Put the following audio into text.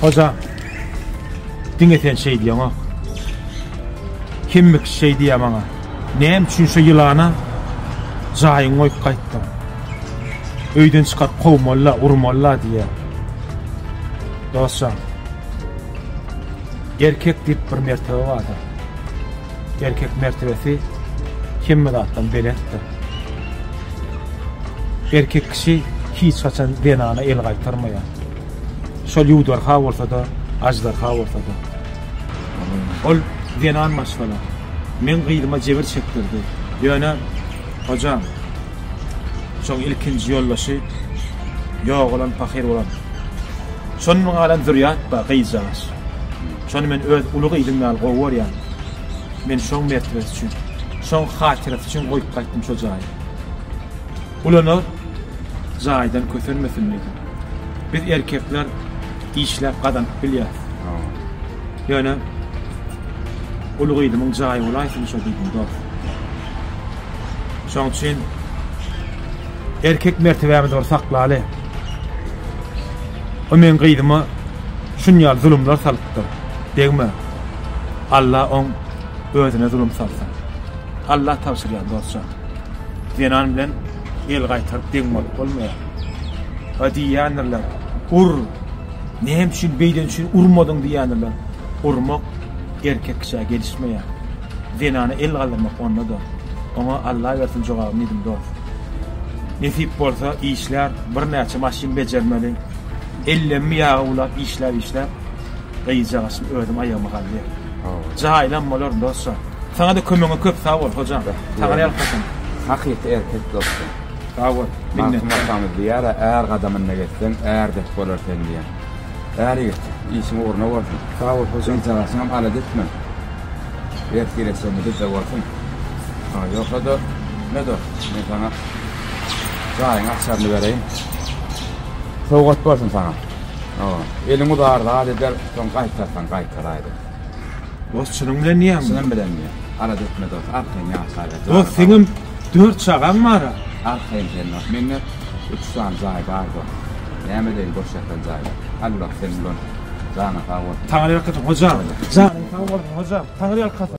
Hoja, diňe sen şeý diýeňok. Kimmikiş şeý diýýär maňa. Näme üçin şu ýylana jaýyňy goýup gaýtdyň? Öýden çykaryp kowmaly-la, urmaly-la diýýär. Dostjan, erkek diýip bir mertebe bardyr. Erkek mertebesi hemme zatdan belentdir. Erkek kişi hiç haçan zenana el gaýtarmaýar. Şol ýuwdarha bolsa-da, aždarha bolsa-da. Ol zenan maşgala. Meň gyzyma jebir çekdirdi. Ýöne, hojam, şoň ilkinji ýoldaşy ýogalan pahyr bolan. Şondan galan zürýat bar, gyzjagaş. Şony men öz uly gyzym ýaly gowy görýän. Men şoň mertebesi üçin, şoň hatyrasy üçin goýup gaýtdym şo jaýy. Gulanar jaýdan kösenmesin diýdim. Biz erkekler işläp gazanyp bilýäris. Ýöne uly gyzymyň jaýy bolaýsyn şo diýdim dost. Şoň üçin erkek mertebämizi bir saklaly. O meň gyzyma şunýaly zulumlar salypdyr. Degme. Allah oň özüne zulum salsyn. Allah tabşyrýar dostjan. Zenan bilen El gaýtaryp deň bolup bolmaýar. Ha diýýändirler, Ur! Näme üçin beýleni üçin urmadyň diýýändirler. Urmak erkek kişä gelişmeýär. Zenana el galdyrmak onda-da. Oňa Alla bersin jogaby Nedim dost. Nesip bolsa işlär, birnäçe maşyn bejermeli. Ellemmi ýaga ulap işläp-işläp Gyzjagaç özüm aýagyma galýar. Jaýlam bolar dostjan. Saňa-da kömegiňe köp sag bol, hojam. Taňry ýalkasyn. Hakyky erkek dostjan. Sag bol. Magtym atamyz diýýär-ä, Är gadamynda gezseň, är dek bolar sen diýen. Är ýigit, işiň ugruna bolsun. Sag bol, hojam. Gyzjagaşyňam alada etme. Ertire çenli bizde bolsun. Hä, ýogsa-da, ne dost, men saňa jaýyň açaryny bereýin. Sowgat bolsun saňa. Hawa. Eliň uzar zat eder, soň gaýtarsaň gaýtaraýdyň. Dost çynyň bilen diýýäňmi? Çynym bilen diýýän. Alada etme dost, arkaýyn ýaşaýber. Dost seňem dört çagaň bar-a? Arkaýyn sen dost, mende üç sany jaý bar dost. Näme edeýin boş ýatan jaýda. Alla sen bilen janyň sag bolsun. Taňryýalkasyn hojam. Janyň sag bolsun hojam. Taňryýalkasyn.